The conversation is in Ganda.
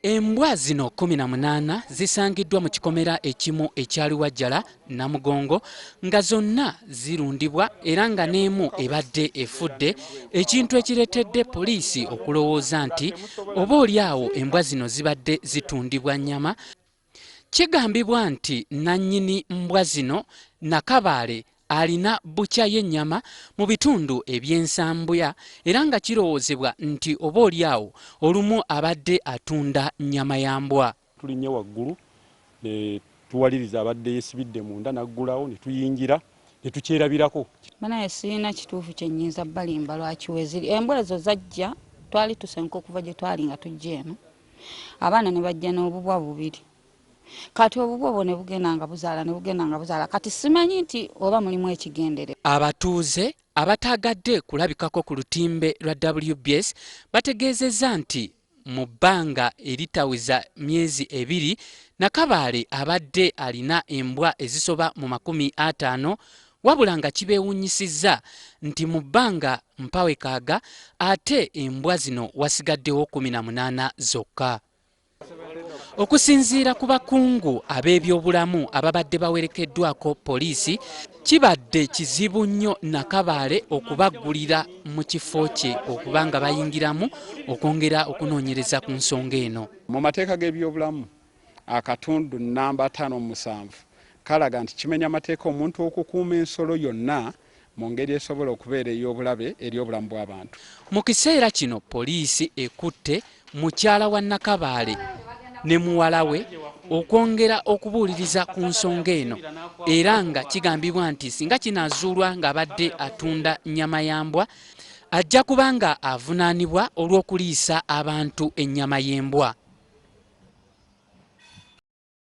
Embwa zino kkumi na munaana zisangiddwa mu kikomera ekimu e Kyaliwajjala, Namugongo nga zonna zirundibwa era nga n'emu ebadde efudde ekintu ekireetedde poliisi okulowooza nti oba olyawo embwa zino zibadde zitundibwa nnyama Kigambibwa nti nnannyini mbwa zino, Nakabaale alina bbukya y'ennyama mu bitundu eby'e Nsambya era nga kirowoozebwa nti oboolyawo olumu abadde atunda nnyama ya mbwa. Tulinnye waggulu ne tuwaliriza abadde yeesibidde munda n'aggulawo ne tuyingira ne tukyerabirako. Banaye sirina kituufu kye nnyinza balimba lwaki we ziri. Embwa ezo zajja, twali tusenguka okuva gye twali nga tujja eno. abaana ne bajja n'obubwa bubiri kati obubwa obwo ne bugenda nga buzaala ne bugenda nga buzaala kati simanyi nti oba mulimu ekigendere abatuuze abataagadde kulabikako ku lutimbe lwa WBS bategeezezza nti mu bbanga eritawiza myezi ebiri nakabaale abadde alina embwa ezisoba mu makumi ataano Wabula nga kibeewunyisizza nti mu bbanga mpawekaaga ate embwa zino wasigaddewo kumi na munaana zokka. Okusinziira ku bakungu ab'ebyobulamu ababadde bawerekeddwako poliisi, kibadde kizibu nnyo Nakabaale okubaggulira mu kifo kye okuba nga bayingiramu okwongera okunoonyereza ku nsonga eno. Mu mateeka g'ebyobulamu akatundu nnamba ataano mu musanvu kalaga nti kimenya mateeka omuntu okukuuma ensolo yonna mu ngeri esobola okubeera ey'obulabe eri obulamu bw'abantu. Mu kiseera kino poliisi ekutte mukyala wa Nakabaale ne muwala we okwongera okubuuliriza ku nsonga eno era nga kigambibwa nti singa kinaazuulwa ng'abadde atunda nnyama ya mbwa, ajja kuba nga avunaanibwa olw'okuliisa abantu ennyama y'embwa.